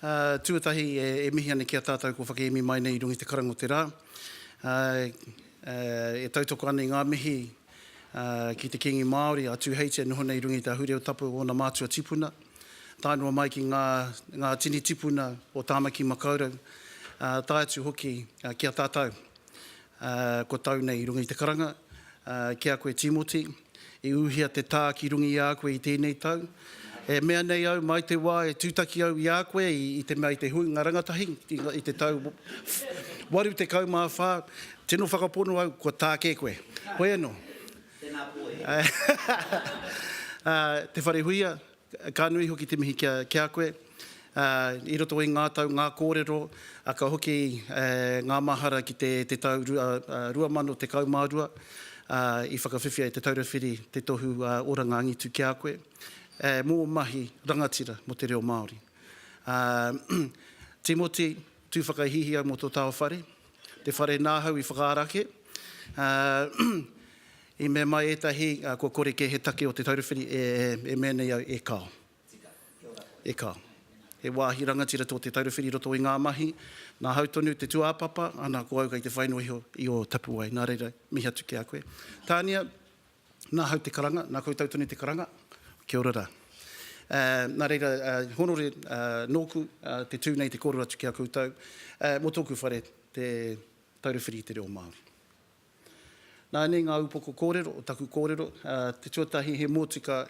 Tuatahi, e mihi ana ki a tātou kua whakeemi mai nei i runga i te karanga o te rā. E tautoko ana i ngā mihi ki te Kīngi Māori, a Tūheiti e noho nei i runga i te ahurea o Tapu, ōna mātua tipuna, tae noa mai ki ngā tini tipuna o Tāmaki Makaurau, tae atu hoki ki a tātou kua tau nei i runga i te karanga, ki a koe Tīmoti. I uhia te tā ki runga i a koe i tēnei tau. E mea nei au, mai te wā e tūtaki au i a koe i te mea i te huinga rangatahi i te tau 84, tino whakapono au kua tā kē koe. Hoi anō. Tēnā koe. Te Wharehuia, Ka nui hoki te mihi ki a koe i roto i ngā tau, ngā kōrero, ka hoki ngā mahara ki te tau 2012 i whakawhiwhia e Te Taura Whiri te tohu oranga angitu ki a koe mō mahi rangatira mō te reo Māori. Timoti, tū whakahihia mō tō tao whare, Te whare nā hau i whakaarake. I mea mai ētahi kua kore kē he take o Te Taura Whiri e mea nei au, e kao. E kao. He wāhi rangatira tō Te Taura Whiri i roto i ngā mahi. Nā hau tonu te tūāpapa, ana ko au kei te whai noa iho i ō tapuwae. Nā reira, mihi atu ki a koe. Tania, Nā hau te karanga, nā koutou tonu te karanga. Kia ora rā. Nā reira, honore nōku te tū nei te kōrero atu ki a koutou mō tōku whare te Taura Whiri i te Reo Māori. Nāianei ngā upoko kōrero o taku kōrero, te tuatahi he mōtika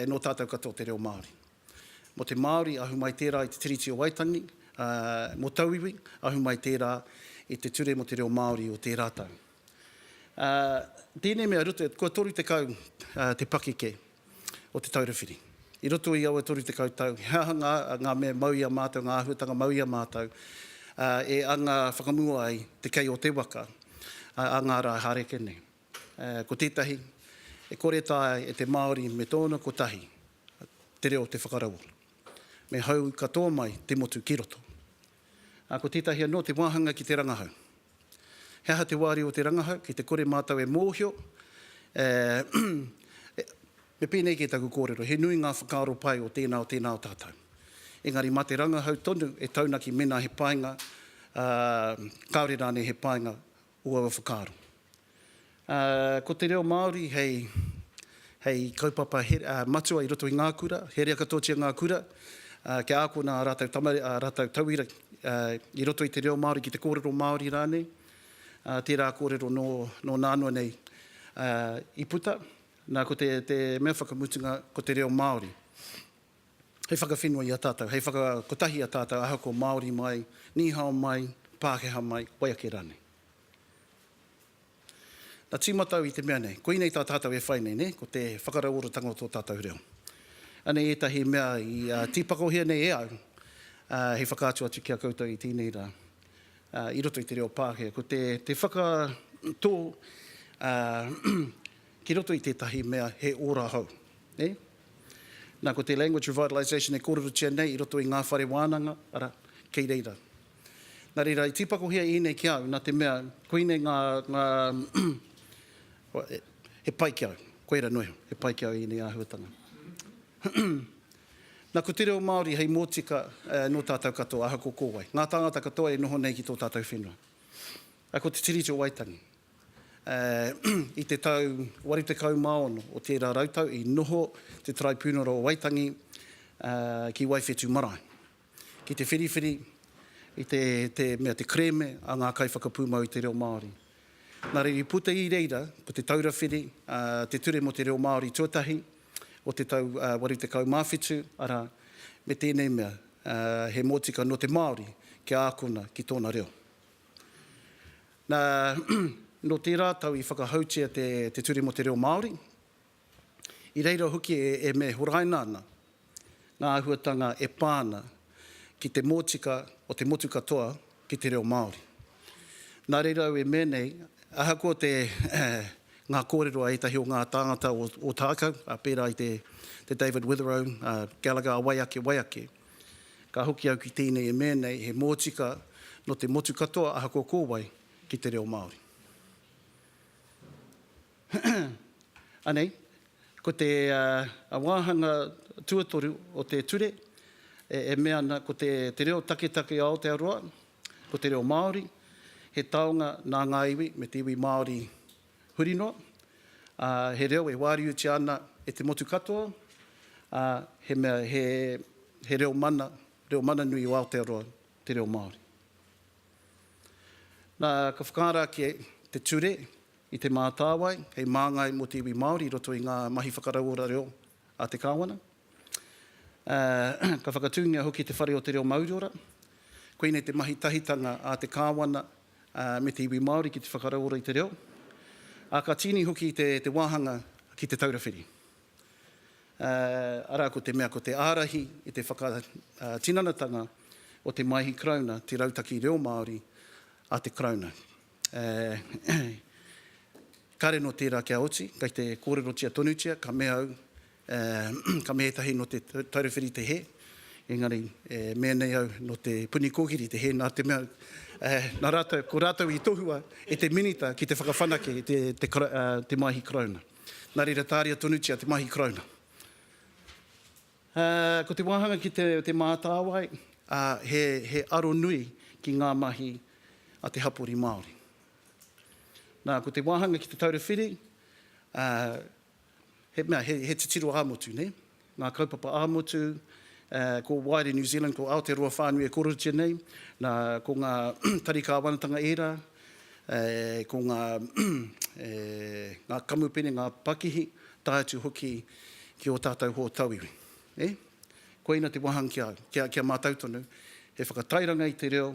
nō tātou katoa te reo Māori. Mō te Māori, ahu mai tērā i te Tiriti o Waitangi, mō tauiwi, ahu mai tērā i te ture mō te reo Māori o tērā tau. Tēnei mea ruto, kua 30 te pakeke o Te Taura Whiri. I roto i aua 30 tau, he aha ngā mea mau i a mātou, ngā āhuatanga mau i a mātou e anga whakamua ai te kei o te waka a ngā rā hāreke nei? Ko tētahi, e kore taea e te Māori me tōna kotahi te reo te whakaraua. Me hou katoa mai te motu ki roto. Ā, ko tētahi anō te wāhanga ki te rangahau. He aha te wāriu o te rangahau? Ki te kore mātou e mōhio, e, e, me pēnei kē taku kōrero, he nui ngā whakaaro pai o tēnā, o tēnā o tātou. Engari mā te rangahau tonu e taunaki mēnā he painga, ā, kāore rānei he painga o aua whakaaro. Ā, ko te reo Māori hei, hei kaupapa he, ā, matua i roto i ngā kura, herea katoatia ngā kura, ā, kia ākona ā rātou tamare, ā rātou tauira, ā, i roto i te reo Māori ki te kōrero Māori rānei, ā, tērā kōrero nō, nō nānoa nei, ā, i puta. Nā, ko te, te mea whakamutunga, ko te reo Māori. hei whakawhenua i a tātou, hei whakakotahi i a tātou ahakoa Māori mai, Nihao mai, Pākehā mai, wai ake rānei. Na tīmatau i te mea nei, koinei tā tātou e whai nei, nē, ko te whakarauoratanga o tō tātou reo. Anei ētahi mea i tīpakohia nei e au hei whakaatu atu ki a koutou i tēnei rā i roto i te reo Pākehā. Ko te whakatō ki roto i tētahi mea he ora hou, nē? Nā, ko te Language Revitalisation e kōrerotia nei i roto i ngā whare wānanga, arā, kei reira. Nā reira, i tīpakohia ēnei ki au, nā te mea, koinei ngā, ngā he pai ki au, koira noa iho, he pai ki au ēnei āhuatanga. Nā, ko te reo Māori hei mōtika nō tātou katoa, ahakoa ko wai, ngā tāngata katoa e noho nei ki tō tātou whenua. Ko te Tiriti o Waitangi. I te tau 86 o tērā rautau i noho te Taraipiunara o Waitangi ki Waiwhetū marae ki te whiriwhiri i te mea te kerēme a ngā kaiwhakapūmau i te reo Māori. Nā reira i puta i reira ko Te Taura Whiri, Te Ture mō te Reo Māori tuatahi o te tau 87, arā, me tēnei mea he mōtika nō te Māori kia ākona ki tōna reo. Nā, nō tērā tau i whakahoutia te Te Ture mō te Reo Māori. I reira hoki e me horaina ana ngā āhuatanga e pā ana ki te mōtika o te motu katoa ki te reo Māori. Nā reira au e mea nei, ahakoa te ngā kōrero a ētahi o ngā tāngata o Tākau, pērā i te David Witherow, Gallagher, a wai ake, wai ake, Ka hoki au ki tēnei e mea nei he mōtika nō te motu katoa ahakoa ko wai ki te reo Māori. Anei, ko te wāhanga tuatoru o te ture e mea ana ko te reo taketake o Aotearoa, ko te reo Māori, he taonga nā ngā iwi me te iwi Māori huri noa, ā, he reo e wāriutia ana e te motu katoa, ā, he mea, he, he reo mana, reo mana nui o Aotearoa, te reo Māori. Nā, ka whakaara ake te ture i Te Mātāwai hei māngai mō te iwi Māori i roto i ngā mahi whakarauora reo a te Kāwana. Ā, ka whakatūngia hoki te Whare o te Reo Mauriora. Koinei te mahi tahitanga a te Kāwana me te iwi Māori ki te whakarauora i te reo, ā, ka tīni hoki te wāhanga ki Te Taura Whiri, arā, ko te mea ko te ārahi i te whakatinanatanga o te Maihi Karauna te rautaki reo Māori a te Karauna. Kāre nō tērā kia oti, kei te kōrerotia tonutia, ka mea au, ē, ka mea ētahi nō te Taurawhiri te hē, engari e mea nei au nō te Puni Kōkiri te hē, nā te mea, ē, nā rātou, ko rātou i tohua e te Minita ki te whakawhanake i te, te, ā, te Māhi Karauna. Nā reira, tāria tonutia te Māhi Karauna. Ā, ko te wāhanga ki te, te mātāwai, ā, he, he aro nui ki ngā mahi a te hapori Māori. Nā, ko te wāhanga ki te taura whiri, ā, he mea, he, he titiro ā-motu, nē. Ngā kaupapa ā-motu, ā, ko Waere New Zealand, ko Aotearoa whānui e korotia nei, nā, ko ngā tari kāwanatanga ērā, ē, ko ngā, e, ngā kamupene, ngā pakihi, tae atu hoki ki ō tātou hōtauiwi. Nē? Koina te wāhanga ki a au, ki a, ki a mātou tonu, he whakatairanga i te reo,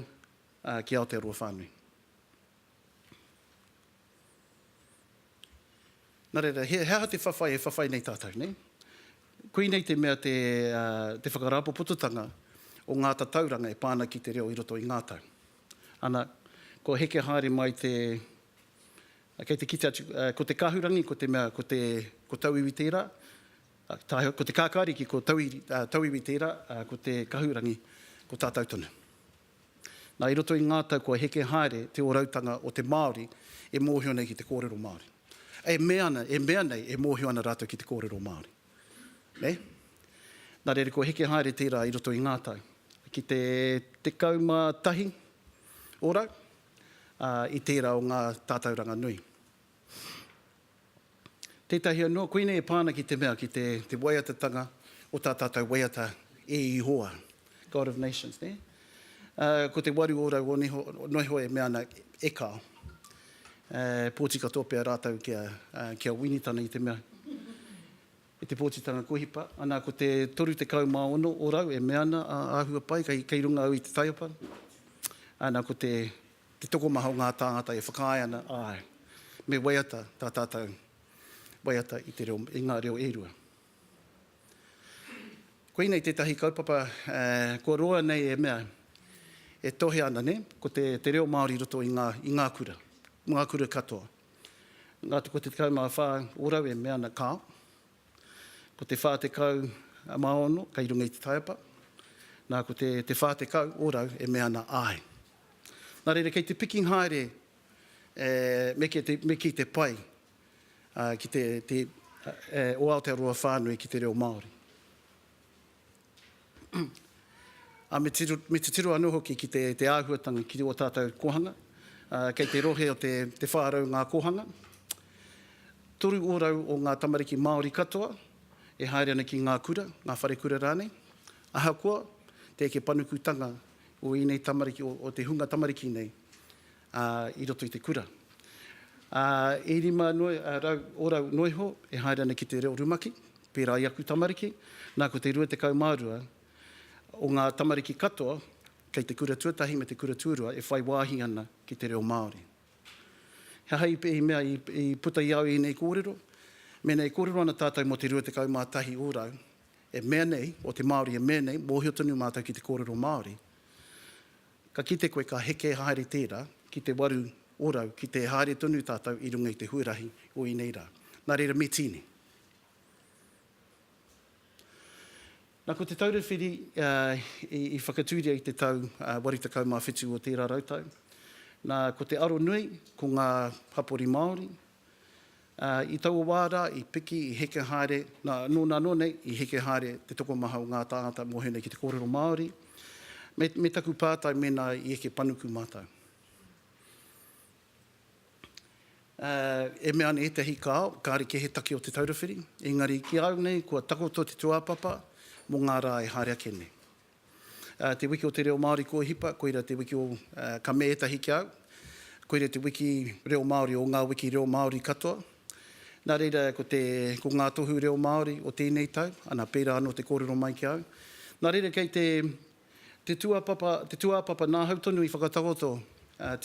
ā, ki Aotearoa whānui. Nā reira, he aha te whawhai e whawhai nei tātou, nei? Koinei te mea te, ā, te whakarāpopototanga o ngā tatauranga e pā ana ki te reo i roto i ngā tau. Ana, kua heke haere mai te, ā, kei te kite atu, ā, ko te kahurangi, ko te mea, ko te, ko tauiwi tērā, ā, tāheoi, ko te kākāriki, ko tauiri, ā, tauiwi tērā, ā, ko te kahurangi, ko tātou tonu. Nā, i roto i ngā tau kua heke haere te ōrautanga o te Māori e mōhio nei ki te kōrero Māori. E mea ana, e mea nei e mōhio ana rātou ki te kōrero Māori. Nē? Nā reira kua heke haere tērā i roto i ngā tau. Ki te tekau mā tahi orau, ā, i tērā o ngā tātauranga nui. Tētahi anō, koinei e pā ana ki te mea, ki te, te waiatatanga o tā tātou waiata e Ihoa, God of Nations, nē? Ā, ko te waru ōrau o neho, noiho e mea ana, E kao. Ā, pōti katoa pea rātou kia, ā, kia Winitana i te mea. E te pōtitanga kua hipa, ana ko te 36 o rau e mea ana, a, āhua pai, kei, kei runga au i te taiapa, ana ko te, te tokomaha o ngā tāngata e whakaae ana, āe, me waiata tā tātou waiata i te reo, i ngā reo e rua. Koinei tētahi kaupapa, ā, kua roa nei e mea, e tohe ana, nē, ko te, te reo Māori i roto i ngā, i ngā kura, ngā kura katoa. Ngā tekau te tekau mā whā orau e mea ana kāo. Ko te whā tekau mā ono kei runga i te taiapa. Nā ko te te whā tekau orau e mea ana āe. Nā reira kei te piking haere e me kei te me kei te pai a ki te te e o Aotearoa whānui ki te reo Māori. ā, me tiro, me titiro anō hoki ki te, te āhuatanga ki ō tātou kōhanga. Ā, kei te rohe o te, te 400 ngā kōhanga. Toru ōrau o ngā tamariki Māori katoa e haere ana ki ngā kura, ngā wharekura rānei. Ahakoa te eke panukutanga o ēnei tamariki, o, o te hunga tamariki nei, ā, i roto i te kura. Ā, e rima noa rau orau noa iho e haere ana ki te reo rumaki, pērā i aku tamariki, nā ko te 22 o ngā tamariki katoa kei te kura tuatahi me te kura tuarua e whai wāhi ana ki te reo Māori. He aha i mea i puta i a au ēnei kōrero? Mēnā e kōrero ana tātou mō te 21 orau e mea nei, o te Māori e mea nei, mōhio tonu mātou ki te kōrero Māori, Ka kite koe ka heke haere tērā ki te waru orau ki te haere tonu tātou i runga i te huarahi o ēnei rā. Nā reira me tīni. Nā, ko Te Taura Whiri i whakatūria i te tau 87 o tērā rautau. Nā, ko te aro nui, ko ngā hapori Māori, Ā, i taua wā rā, i piki, i heke haere, nā, nō nā noa nei, i heke haere te tokomaha o ngā tāngata mō hēnei ki te kōrero Māori, me, me taku pātai mēnā i eke panuku mātou. Ā, e mea ana ētahi kāo, kāre kē he take o Te Taura Whiri, engari ki au nei, kua takoto te tūāpapa mō ngā rā e haere ake nei. Te wiki o te reo Māori kua hipa, koira te wiki o Ka me ētahi ki a au. Koira te wiki reo Māori o ngā wiki reo Māori katoa. Nā reira, ko te, ko ngā tohu reo Māori o tēnei tau, ana, pērā anō te kōrero mai ki a au. Nā reira, kei te, te tūāpapa, te tūāpapa nā hau tonu i whakatakoto,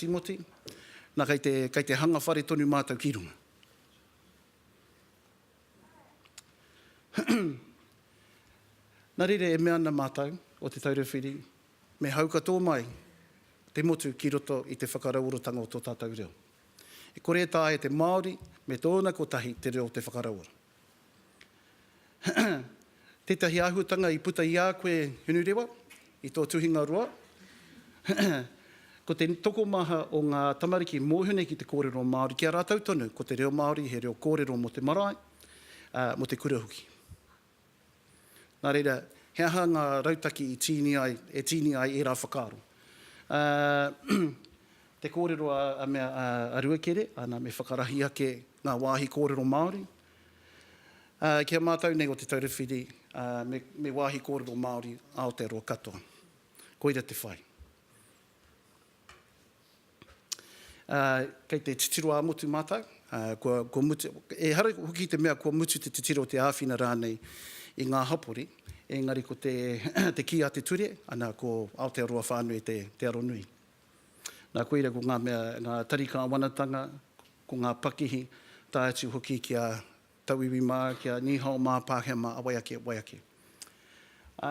Tīmoti. Nā, kei te, kei te hanga whare tonu mātou ki runga. Nā reira e mea ana mātou, o Te Taura Whiri, me hauka tō mai te motu ki roto i te whakarauoratanga o tō tātou reo. E kore e taea e te Māori me tōna kotahi te reo te whakarauora. Tētahi āhuatanga i puta i a koe Hinurewa i tō tuhinga roa, ko te tokomaha o ngā tamariki mōhio nei ki te kōrero Māori, ki a rātou tonu ko te reo Māori he reo kōrero mō te marae, ā, mō te kura hoki. Nā reira, he aha ngā rautaki i tīni ai, e tīni ai ērā whakaaro? Ā, te kōrero a, a mea, a, a Ruakere, ana, me whakarahi ake ngā wāhi kōrero Māori, Ki a mātou nei o Te Taura Whiri, me wāhi kōrero Māori Aotearoa katoa. Koira te whai. Kei te titiro ā-motu mātou, kua mutu, ehara hoki i te mea kua mutu te titiro, te āwhina rānei i ngā hapori, engari ko te kī a te ture, ana ko Aotearoa whānui te aro nui. Nā, koira ko ngā mea, ngā tari kāwanatanga, ko ngā pakihi, tae atu hoki ki a Tauiwi mā, ki a Nīhao mā, Pākehā mā, a wai ake, wai ake. Ā,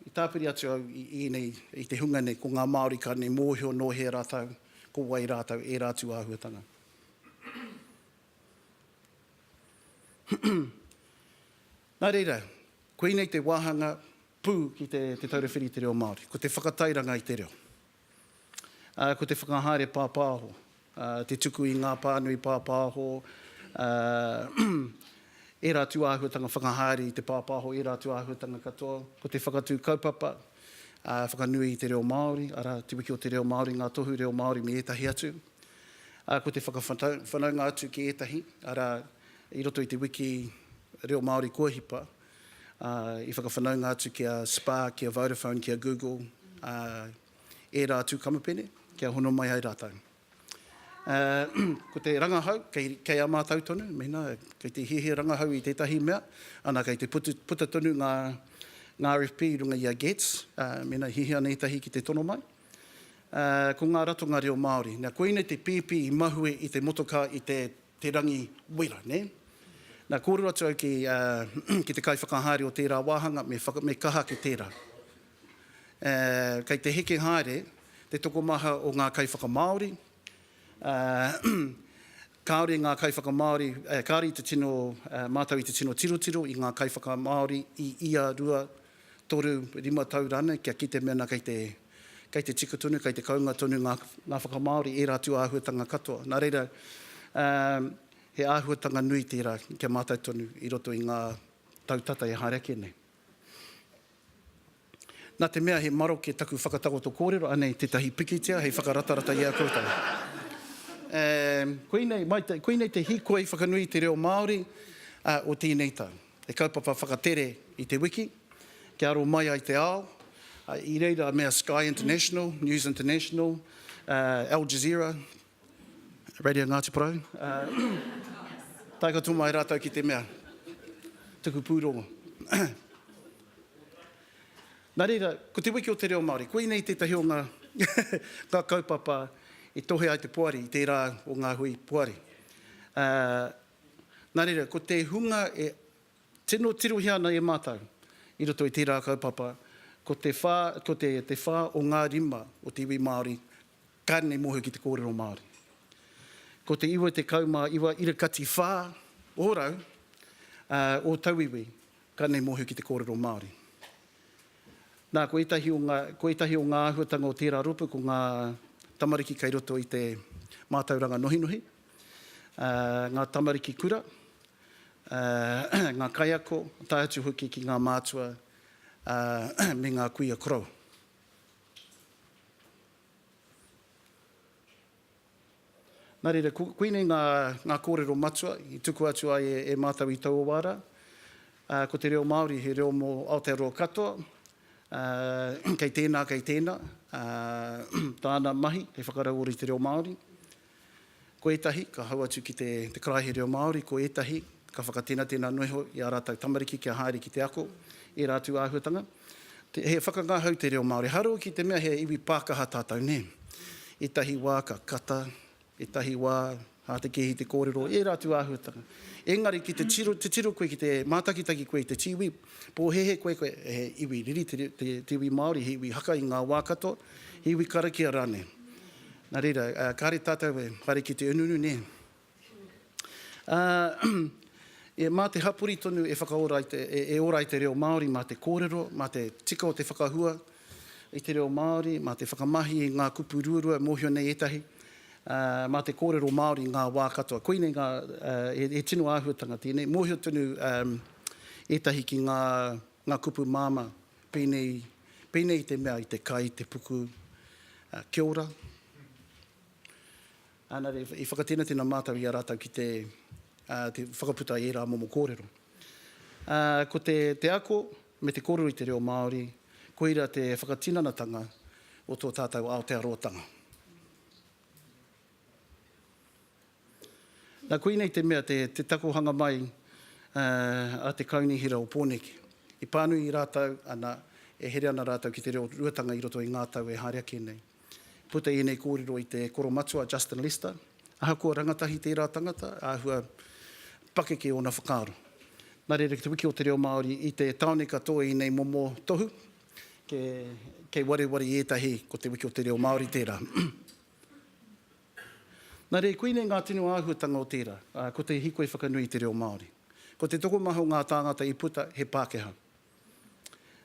i tāpiri atu au i ēnei, i te hunga nei, ko ngā Māori ka nei mōhio nō hea rātou, ko wai rātou, ērā atu āhuatanga. Nā reira, koinei te wāhanga Pū ki te Te Taura Whiri i te Reo Māori, ko te whakatairanga i te reo, ā, ko te whakahaere pāpāho, ā, te tuku i ngā pānui pāpāho, ā, ērā atu āhuatanga whakahaere i te pāpāho, ērā atu āhuatanga katoa, ko te whakatū kaupapa, ā, whakanui i te reo Māori, arā, Te Wiki o te Reo Māori, Ngā Tohu Reo Māori me ētahi atu, ā, ko te whakawhanaunga atu ki ētahi, arā, i roto i te wiki reo Māori kua hipa. ā, i whakawhanaunga atu ki a Spa, ki a Vodafone, ki a Google, ā, ērā atu kamupene, kia hono mai ai rātou. Ā, ko te rangahau, kei, kei a mātou tonu, mēnā kei te hiahia rangahau i tētahi mea, ana kei te putu, puta tonu ngā, ngā RFP i runga i a GETS, ā, mēnā i hiahia ana ētahi ki te tono mai, ā, ko ngā ratonga reo Māori. Nā, koinei te pēpi i mahue i te motokā i te. te rangi wera, nē? Nā, kōrero atu au ki, ā, ki te kaiwhakahaere o tērā wāhanga, me whaka, me kaha ake tērā. Ā, kei te heke haere te tokomaha o ngā kaiwhakamāori, ā, kāore ngā kaiwhakamāori, kāore i te tino, ā, mātou i te tino tirotiro i ngā kaiwhakamāori i ia rua toru, rima tau rānei kia kite mena kei te, kei te tika tonu, kei te kounga tonu ngā, ngā whakamāori, ērā atu āhuatanga katoa. Nā reira, ā, he āhuatanga nui tērā kia mātau tonu i roto i ngā tau tata e haere ake nei. Nā te mea he maroke taku whakatakoto kōrero, anei tētahi pikitia hei whakaratarata i a koutou. Ā, koinei, mai te, koinei te hīkoi whakanui i te reo Māori, ā, o tēnei tau. He kaupapa whakatere i te wiki, kia aro mai ai te ao, i reira me a Sky International, News International, Al Jazeera, Radio Ngāti Porou, tae katoa mai rātou ki te mea, tuku pūrongo. Nā reira, ko Te Wiki o te Reo Māori, koinei tētahi o ngā ngā kaupapa i tohe ai te poari i tērā o ngā hui poari. Nā reira, ko te hunga e tino tirohia ana e mātou i roto i tērā kaupapa, ko te whā, ko te, te whā o ngā rima o te iwi Māori ka rere mōhio ki te kōrero Māori. Ko te 99 ira kati whā ōrau o tauiwi ka rere mōhio ki te kōrero Māori. Nā, ko ētahi o ngā, ko ētahi o ngā āhuatanga o tērā rōpū, ko ngā tamariki kei roto i te mātauranga nohinohi, ngā tamariki kura, ngā kaiako, tae atu hoki ki ngā mātua me ngā kuia koroua. Nā reira, koinei ngā kōrero matua i tukua atu ai e mātou i taua wā rā. Ko te reo Māori he reo mō Aotearoa katoa, kei tēnā, kei tēnā tāna mahi hei whakarauora i te reo Māori, Ko ētahi ka hau atu ki te karaehe reo Māori, ko ētahi ka whakatenatena noa iho i ā rātou tamariki kia haere ki te ako, ērā atu āhuatanga. He whakangahau te reo Māori, harau ki te mea he iwi pākaha tātou, nē. Ētahi wā ka kata, ētahi wā hātekēhi te kōrero, ērā atu āhuatanga. Engari ki te tiro, te tiro koe ki te mātakitaki koe i te tīwī, pōhēhē koe, koe he iwi riri te iwi Māori, he iwi haka i ngā wā katoa, he iwi karakia rānei. Nā reira, kāre tātou e whare ki te unuunu, nē. E, mā te hapori tonu e whakaora ai te, e, e ora ai te reo Māori, mā te kōrero, mā te tika o te whakahua i te reo Māori, mā te whakamahi i ngā kupu ruarua, e mōhio nei ētahi, mā te kōrero Māori ngā wā katoa. Koinei ngā, he, he tino āhuatanga tēnei. Mōhio tonu ētahi ki ngā, ngā kupu māmā. Pēnei, pēnei te mea i te kai i te puku, Kia ora. Ana re, i whakatenatena mātou i a rātou ki te, te whakaputa i ērā momo kōrero. Ko te, te ako me te kōrero i te reo Māori, koira te whakatinanatanga o tō tātou Aotearoatanga. Nā koinei te mea te takohanga mai a te Kaunihera o Pōneke. I pānui rātou, ana, e here ana rātou ki te reo ruatanga i roto i ngā tau e haere ake nei. Puta i ēnei kōrero i te koromatua Justin Lester, ahakoa rangatahi tērā tangata, āhua pakeke ōna whakaaro. Nā reira ki te Wiki o te Reo Māori i te tāone katoa i nei momo tohu, kei wareware i ētahi ko te Wiki o te Reo Māori tērā. Nā reira, koinei ngā tino āhuatanga o tērā, ā, ko te hīkoi whakanui i te reo Māori. Ko te tokomaha o ngā tāngata i puta, he Pākehā.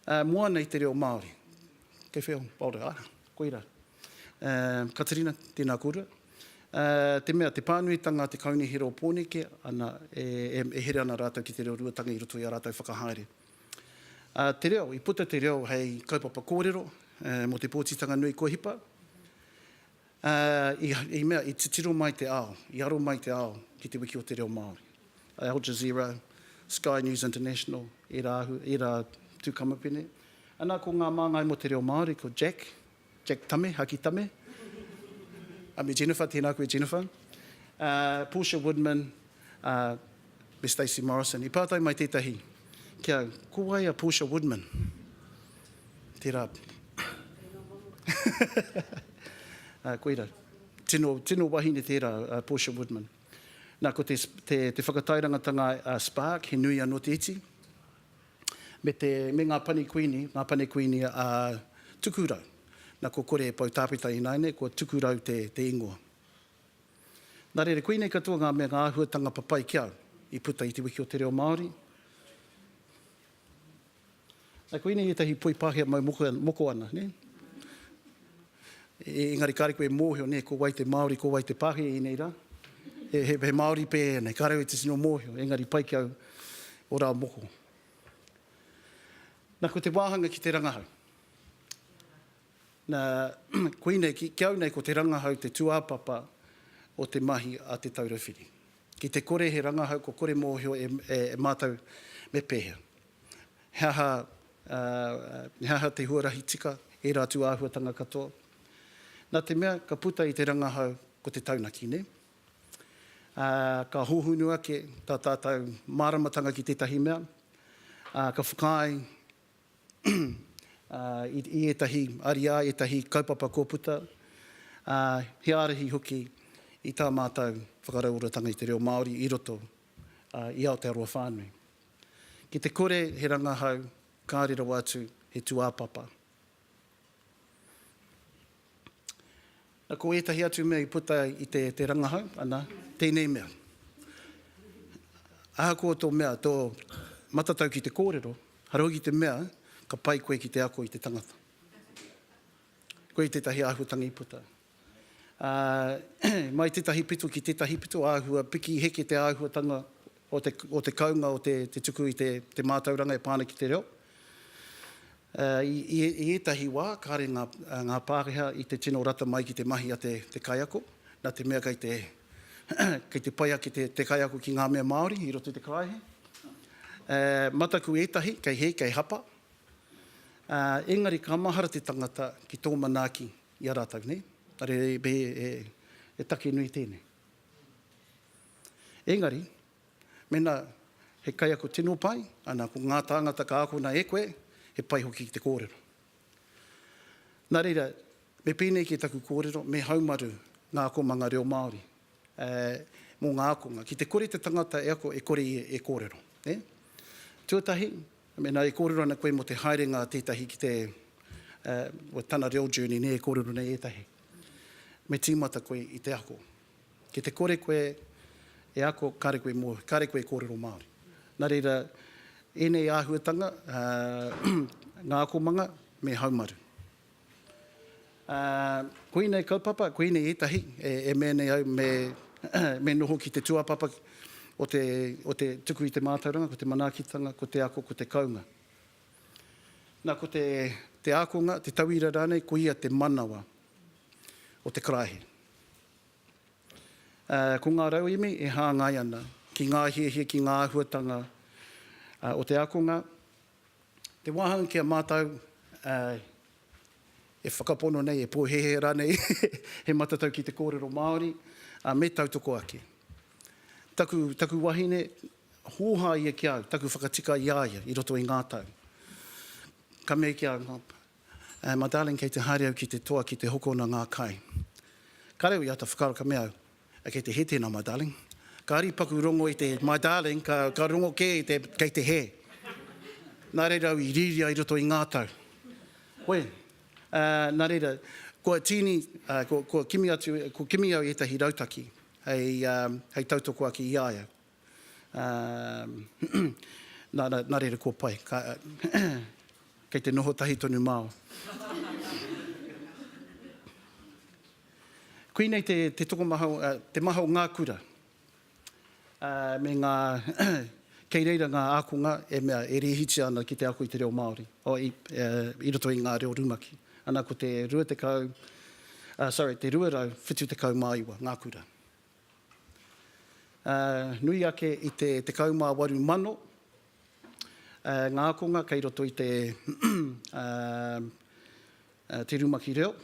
Ā, moana i te reo Māori. Kei whea ō Māori? Ā, koirā. Ā, Katerina, tēnā kōrua. Ā, te mea, te pānuitanga a te Kaunihera o Pōneke, ana, e, e, e here ana rātou ki te reo ruatanga i roto i ā rātou whakahaere. Ā, te reo, i puta te reo hei kaupapa kōrero, ā, mō te pōtitanga nui kua hipa. Ā, i, i mea, i titiro mai te ao, i aro mai te ao ki Te Wiki o te Reo Māori. A Al Jazeera, Sky News International, ērā ahu, ērā tū kamupene. Anā, ko ngā māngai mō te reo Māori, ko Jack, Jack Tame, Haki Tame, ā, me Jennifer, tēnā koe Jennifer, ā, Portia Woodman, ā, Me Stacey Morrison. I pātai mai tētahi ki au, Ko wai a Portia Woodman? Tērā. Ā, koirā. Tino, tino wahine tērā a Portia Woodman. Nā, ko te, te, te whakatairangatanga a Spark, he nui anō te iti. Me, te, me ngā pani kuini, ngā pani kuini a Tukurau. Nā, ko kore e pou tāpeta ināianei, ko Tukurau te, te ingoa. Nā reira, koinei katoa ngā mea, ngā āhuatanga papai ki au i puta i Te Wiki o te Reo Māori. Nā, koinei ētahi poi Pākehā mau moko, moko ana, nē? E, engari kāre koe e mōhio, nē, ko wai te Māori, ko wai te Pākehā i ēnei rā? He, he, he Māori pēhea nei, kāre au e titino mōhio, engari pai ki au o rā moko. Nā, ko te wāhanga ki te rangahau. Nā, koinei, ki, ki au nei ko te rangahau te tūāpapa o te mahi a Te Taura Whiri. Ki te kore he rangahau kua kore mōhio e, e, e mātou me pēhea. He aha, ā, he aha te huarahi tika ērā tūāhuatanga katoa? Nā te mea ka puta i te rangahau ko te taunaki, nē? Ā, ka hōhonu ake tā tātou māramatanga ki tētahi mea, ā, ka whakaae i ētahi ariā, ētahi kaupapa kua puta, ā, he ārahi hoki i tā mātou whakarauoratanga i te reo Māori i roto i Aotearoa whānui. Ki te kore he rangahau, kāore rawa atu he tūāpapa. Ko ētahi atu mea i puta i te te rangahau, ana, tēnei mea. Ahakoa tō mea, tō matatau ki te kōrero, hara hoki te mea, ka pai koe ki te ako i te tangata. Koe tētahi āhuatangi i puta. Mai tētahi pito ki tētahi pito, āhua piki heke te āhuatanga o te kounga o te tuku i te mātauranga e pā ana ki te reo. I ētahi wā, kāre ngā Pākehā i te tino rata mai ki te mahi a te kaiako, nā te mea kei te pai ake te kaiako ki ngā mea Māori i roto i te karaehe. Mataku ētahi, kei hē, kei hapa, ā, engari ka mahara te tangata ki tō manaaki i a rātou, nē? Engari he take nui tēnei. Engari, mēnā he kaiako tino pai, ana, ko ngā tāngata ka akona e koe, he pai hoki ki te kōrero. Nā reira, me pēnei kē taku kōrero, me haumaru ngā akomanga reo Māori mō ngā ākonga, ki te kore te tangata e ako, e kore ia e kōrero. Tuatahi, Mēnā e kōrero ana koe mō te haerenga a tētahi ki te, uh, tana reo journey nē e kōrero nei ētahi, me tīmata koe i te ako. Ki te kore koe e ako, kāre koe e mōhio, kāre koe e kōrero Māori. Nā reira, ēnei āhuatanga, uh, ngā akomanga me haumaru. Ā, koinei kaupapa, koinei ētahi e mea nei au me noho ki te tūāpapa o te tuku i te mātauranga, ko te manaakitanga, ko te ako, ko te kounga. Nā, ko te ākonga, te tauira rānei, ko ia te manawa o te karaehe. Ā, ko ngā rauemi e hāngai ana ki ngā hiahia, ki ngā āhuatanga o te ākonga, Te wāhanga ki a mātou e whakapono nei, e pōhēhē rānei he matatau ki te kōrero Māori, ā, me tautoko ake. Taku, taku wahine, hōhā ia ki a au, taku whakatika i a ia i roto i ngā tau. Ka mea ki a au, My darling, kei te haere au ki te toa ki te hokona ngā kai. Ka reo i āta whakaaro, ka mea au, Kei te hē tēnā, my darling. Kāri paku rongo i te my darling, ka, ka rongo kē i te kei te hē. Nā reira au i rīria i roto i ngā tau. Koe, ā, nā reira, kua tīni, ā, kua, kua kimi atu, kua kimi au i ētahi rautaki hei, ā, hei tautoko ake i a ia. Nā reira kua pai. Kei te noho tahi tonu māu. Koinei te tokomaha, te maha o ngā kura. Me ngā, kei reira ngā ākonga e mea e rēhitia ana ki te ako i te reo Māori, i roto i ngā reo rumaki. Ana ko te 20, sorry, te 279 ngā kura. nui ake i te 18,000 ngā ākonga kei roto i te te rumaki reo.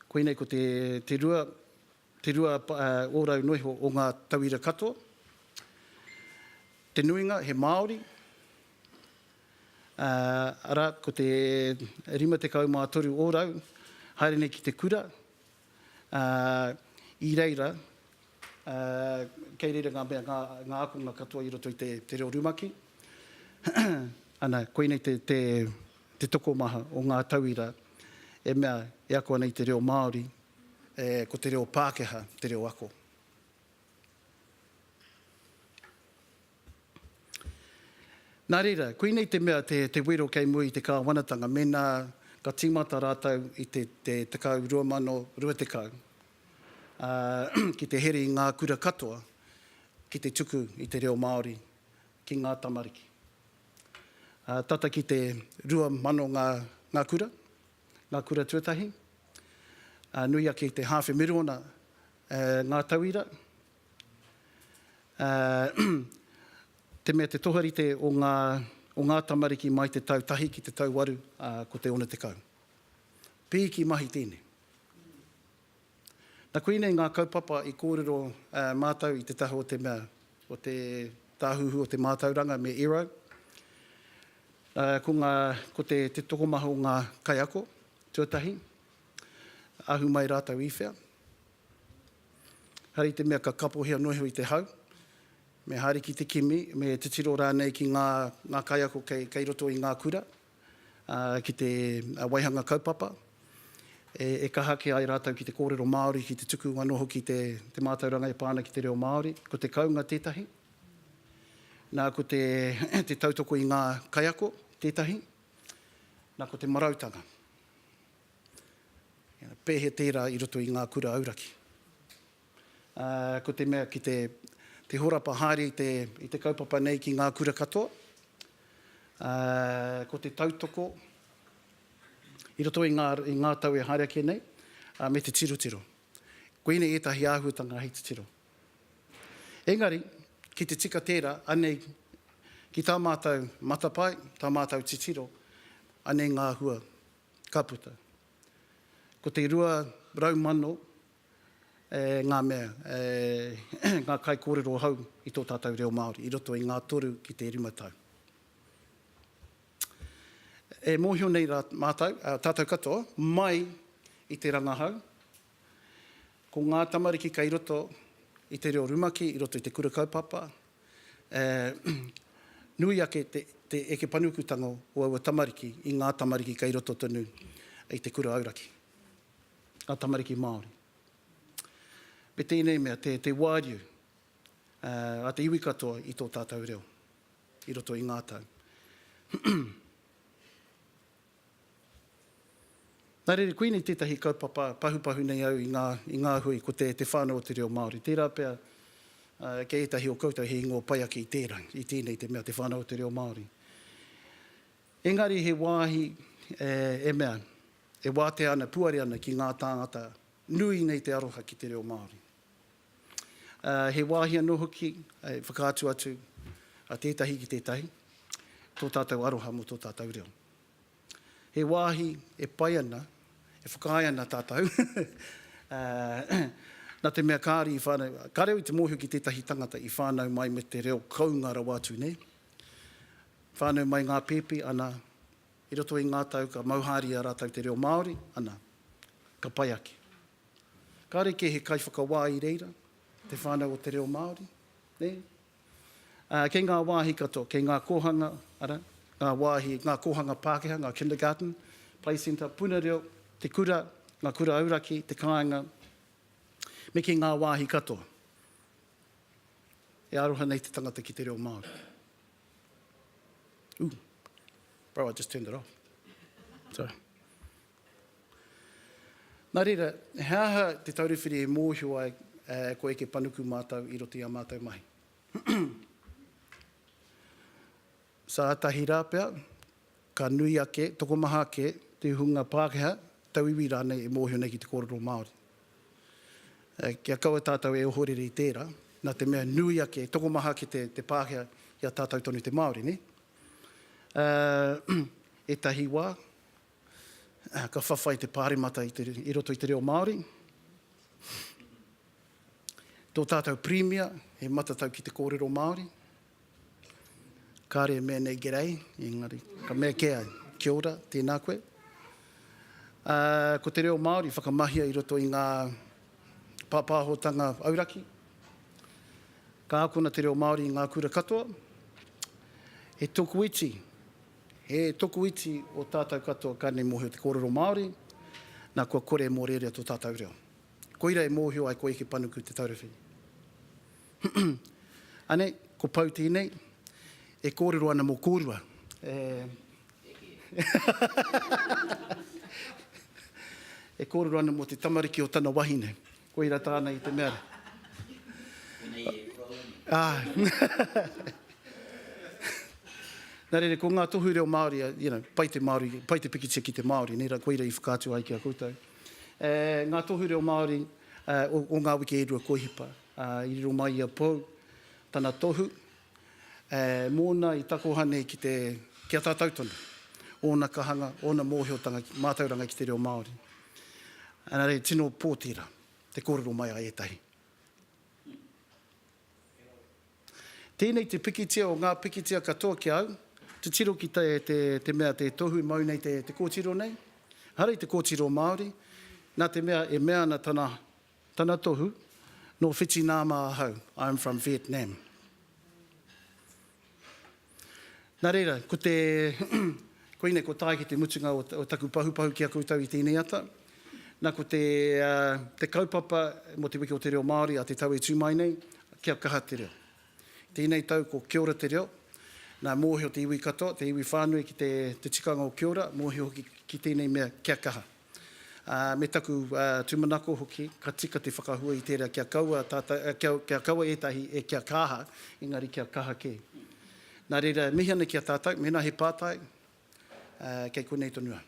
Koinei ko te te rua, te rua ōrau noa iho o ngā tauira katoa. Te nuinga he Māori, arā, ko te 53 ōrau haere nei ki te kura, Ā, i reira, ā, kei reira ngā mea, ngā, ngā ākonga katoa i roto i te, te reo rumaki. Ana, koinei te, te, te tokomaha o ngā tauira e mea, e ako ana i te reo Māori, ē, ko te reo Pākehā te reo ako. Nā reira, koinei te mea te wero kei mua i te kāwanatanga mēnā ka tīmata rātou i te 10 2020 ki te here i ngā kura katoa ki te tuku i te reo Māori ki ngā tamariki. Tata ki te 2000 ngā kura, ngā kura tuatahi, nui ake i te hāwhe miriona ngā tauira Ā, te mea te toharite o ngā, o ngā tamariki mai te tau tahi ki te tau waru, ā, ko te ono tekau. Pīki mahi tēnei. Na koinei ngā kaupapa i kōrero, ā, mātou i te taha o te mea, o te Tāhuhu o te Mātauranga me Ero. Ā, ko ngā, ko te, te tokomaha o ngā kaiako tuatahi, ahu mai rātou i whea? Hari te mea ka kapohia noa iho i te hau, me haere ki te kimi, me titiro rānei ki ngā kaiako kei roto i ngā kura, ki te waihanga kaupapa, e kaha ake ai rātou ki te kōrero Māori, ki te tuku anō hoki te mātauranga e pā ana ki te reo Māori. Ko te kounga tētahi, nā ko te tautoko i ngā kaiako tētahi, nā ko te marautanga. Pēhe tērā i roto i ngā kura auraki. Ko te mea ki te horapa haere i te kaupapa nei ki ngā kura katoa, ko te tautoko i roto i ngā tau e haere ake nei, me te tirotiro. Koinei ētahi āhuatanga hei titiro. Engari, ki te tika tērā, anei ki tā mātou matapae, tā mātou titiro, anei ngā hua. ka puta. Ko te rua rau mano e ngā mea, e ngā kaikōrero hou i tō tātou reo Māori i roto i ngā toru ki te rima tau. E mōhio nei rā mātou, tātou katoa, mai i te rangahau, Ko ngā tamariki kei roto i te reo rumaki, i roto i te kura kaupapa, e nui ake te eke panukutanga o aua tamariki i ngā tamariki kei roto tonu i te kura auraki, ngā tamariki Māori. Me tēnei mea, te wāriu a te iwi katoa i tō tātou reo i roto i ngā tau. Nā reira, koinei tētahi kaupapa pahupahu nei au i ngā, i ngā hui, ko te, te whānau o te reo Māori. Tērā pea, kei ētahi o koutou he ingoa pai ake i tērā, i tēnei te mea te whānau o te reo Māori. Engari he wāhi e, e mea, e wātea ana, puare ana ki ngā tāngata nui nei te aroha ki te reo Māori. Ā, he wāhi anō hoki, e whakaatu atu a tētahi ki tētahi, tō tātou aroha mō tō tātou reo. He wāhi e pai ana, e whakaae ana tātou, nā te mea kāre i whānau, kāre au i te mōhio ki tētahi tangata i whānau mai me te reo kounga rawa atu nei, whānau mai ngā pēpi, ana, i roto i ngā tau ka mauhāria rātou te reo Māori, ana, ka pai ake. Kāre kē he kaiwhakawā i reira te whānau o te reo Māori, nē? Kei ngā wāhi katoa, kei ngā kōhanga, arā, ngā wāhi, ngā kōhanga Pākehā, ngā kindergarten, play centre, puna reo, te kura, ngā kura auraki, te kāinga, me kei ngā wāhi katoa. E aroha nei te tangata ki te reo Māori. Ooh. Bro, I just turned it off. Sorry. Nā reira, he aha te tauruwhiri e mōhio ai koe eke panuku mātou i roto i ā mātou mahi? Sātahi rā pea, ka nui ake, tokomaha ake te hunga Pākehā, tauiwi rānei e mōhio nei ki te kōrero Māori. Kia kaua tātou e ohorere i tērā, nā te mea nui ake, tokomaha ake te Pākehā i a tātou tonu te Māori, nē? Ētahi wā, Ka whawhai te Pāremata i roto i te reo Māori. Tō tātou Pirimia he matatau ki te kōrero Māori. Kāre e mea nei G'day, engari ka mea kē ai Kia ora, tēnā koe. Ko te reo Māori i whakamahia i roto i ngā pāpāhotanga auraki. Ka akona te reo Māori i ngā kura katoa. He tokoiti. He tokoiti o tātau katoa ka nei mōhio te kōrero Māori, nā kua kore e mōrearea tō tātau reo. Koira e mōhio ai ko Eke Panuku te taurawhi. Anei, ko Pou tēnei, e kōrero ana mō kōrua. E kōrero ana mō te tamariki o tana wahine. Koira tāna i te mea. Koinei e kura ora nei. Āe. Nā reira, ko ngā tohu reo Māori, you know, pai te Māori, pai te pikitia ki te Māori, nē, koira i whakaatu ai ki a koutou. E, ngā tohu reo Māori o, o ngā wiki e rua koihipa. Ā, i riro mai i a Pou, tana tohu, Ē, mōna i takoha nei ki te, ki a tātou tonu, ōna kahanga, ōna mōhiotanga ki, mātauranga ki te reo Māori. Engari, tino pō tērā, te kōrero mai a ētahi. Tēnei te pikitia o ngā pikitia katoa ki a au, titiro ki te, te, te mea te tohu i mau nei te, te kōtiro nei. Engari, te kōtiro Māori, nā te mea e mea ana tana Tana tohu, Nō Whitināma ahau, I am from Vietnam. Nā reira, ko te, koinei kua tae ki te mutunga o taku pahupahu ki a koutou i tēnei ata. Nā, ko te, te kaupapa mō Te Wiki o te Reo Māori a te tau e tū mai nei, kia kaha te reo. Tēnei tau ko Kia Ora te Reo. Nā, mōhio te iwi katoa, te iwi whānui ki te, te tikanga o Kia Ora, mōhio hoki ki tēnei mea, kia kaha. ā, me taku tūmanako hoki, ka tika te whakahua i tērā kia kaua tātou, kia, kia kaua ētahi e kia kaha, engari kia kaha kē. Nā reira, e mihi ana ki a tātou, mēnā he pātai, ā, kei konei tonu au.